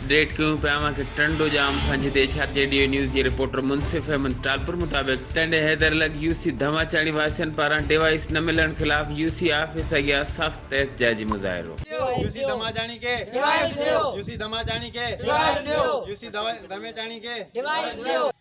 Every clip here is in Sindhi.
اپڊيٽ ڪيون پيا اوهان کي ٽنڊو ڄام کان جتي H R G Dev news جي رپورٽر منصف احمد ٽالپر مطابق ٽنڊي حيدر لڳ يو سي ڌماچاڻي واسين پاران ڊيوائيس نه ملڻ خلاف يو سي آفيس اڳيان سخت احتجاجي مظاهرو. يو سي ڌماچاڻي کي ڊيوائيس ڏيو يو سي ڌماچاڻي کي ڊيوائيس ڏيو يو سي ڌميچاڻي کي ڊيوائيس ڏيو.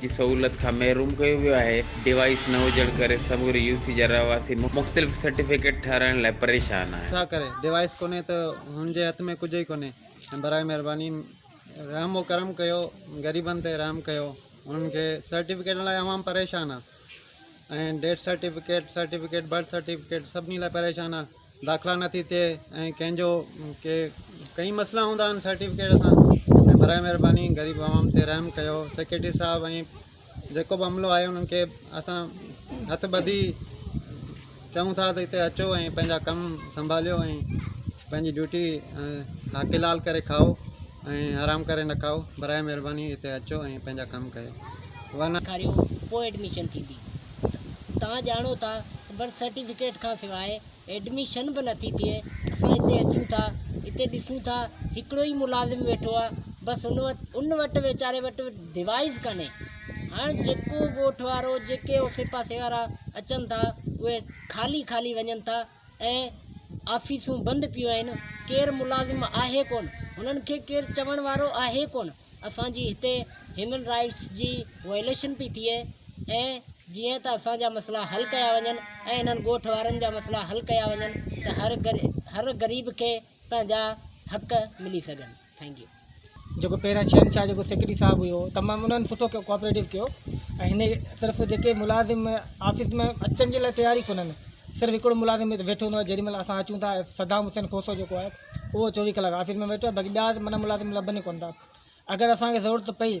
جي سهولت کان محروم ڪيو ويو آهي، ڊيوائيس نه هجڻ ڪري سموري يو سي جا رهواسي مختلف سرٽيفڪيٽ ٺهرائڻ لاء پريشان آهن. ڇا ڪري ڊيوائيس ڪونهي ته هن جي هٿ ۾ ڪجهه ئي ڪونهي ۽ براء مهرباني رحم و ڪرم ڪيو غريبن تي رحم ڪيو انهن کي سرٽيفڪيٽن لاء عوام پريشان آهي ۽ death certificate certificate birth certificate سڀني لاء پريشان آهي. داخلا نه ٿي ٿئي ۽ ڪنهن جو ڪي ڪئين مسئلا هوندا آهن سرٽيفڪيٽ سان ۽ براء مهرباني غريب عوام تي رحم ڪيو سيڪريٽري صاحب ۽ جيڪو به عملو آهي انهن کي اسان هٿ ٻڌي چئون ٿا ته هتي اچو ۽ پنهنجا ڪم سنڀاليو ۽ پنهنجي ڊيوٽي حاڪلال ڪري کائو ۽ حرام ڪري نه کائو براء مهرباني هتي اچو ۽ پنهنجا ڪم ڪيو ورنه ڏيکاريو پوء ايڊميشن ٿيندي. توهان ڄاڻو ٿا ته برٿ سرٽيفڪيٽ کان سواء ايڊميشن به نٿي ٿئي اسان هتي اچون ٿا هتي ڏسون ٿا هڪڙو ئي ملازم ويٺو آهي بس ان وٽ ان وٽ ويچاري وٽ ڊوائز ڪاني هاڻ جيڪو ڳوٺ وارو جيڪي اوسي پاسي وارا اچن ٿا اهي خالي خالي وڃن ٿا ۽ آفيسون بند پيون آهن، ڪير ملازم آهي ڪونه، هنن کي ڪير چوڻ وارو آهي ڪونه، اسان جي هتي هيومن رائيٽس جي وائليشن پئي ٿئي ۽ جيئن ته اسان جا مسئلا حل ڪيا وڃن ۽ انهن ڳوٺ وارن جا مسئلا حل ڪيا وڃن ته هر غريب کي پنهنجا حق ملي سگهن. ٿينڪ يو جيڪو پهريان شهنشاهه جيڪو سيڪريٽري صاحب هيو تمام انهن سٺو ڪيو ڪوآپريٽو ڪيو ۽ هن طرف جيڪي ملازم آفيس ۾ اچڻ جي لاء تيار ئي ڪونهن صرف هڪڙو ملازم هتي ويٺو هوندو آهي جيڏي مهل اسان اچون ٿا صدام حسين کوسو جيڪو آهي اهو چوويهه ڪلاڪ آفيس ۾ ويٺو آهي باقي ٻيا ملازم لڀن ئي ڪون ٿا اگر اسان کي ضرورت پئي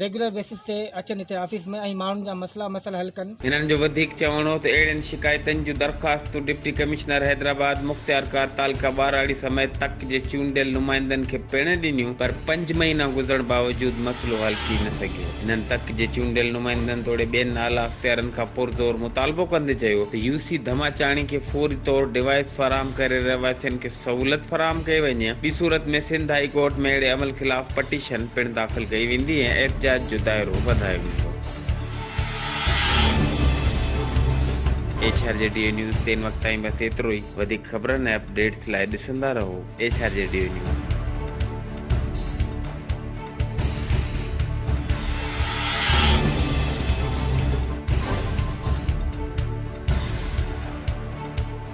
ريگيولر بيسز تي اچن هتي آفيس ۾ ۽ ماڻهن جا مسئلا مسئل حل ڪن. هنن جو وڌيڪ چوڻ هو ته اهڙين شڪايتن جون درخواستون ڊپٽي ڪمشنر حيدرآباد، مختيارڪار تعلقه ٻهراڙي سميت تڪ جي چونڊيل نمائندن کي پڻ ڏنيون پر پنج مهينا گذرڻ باوجود مسئلو حل ٿي نه سگهيو. هنن تڪ جي چونڊيل نمائندن توڙي ٻين اعليٰ اختيارين کان پرزور مطالبو ڪندي چيو ته يو سي ڌماچاڻي کي فوري طور ڊوائيس فراهم ڪري رهواسين کي سهولت فراهم ڪئي وڃي. ٻي صورت ۾ سنڌ هائي ڪورٽ ۾ اهڙي عمل خلاف پٽيشن پڻ داخل ڪئي ويندي ۽ احتجاج جو دائرو وڌايو ويندو. H R G Dev news تي ان وقت تائين بس ايترو ئي. وڌيڪ خبرن ۽ اپ ڊيٽس لاء ڏسندا رهو H R G Dev news.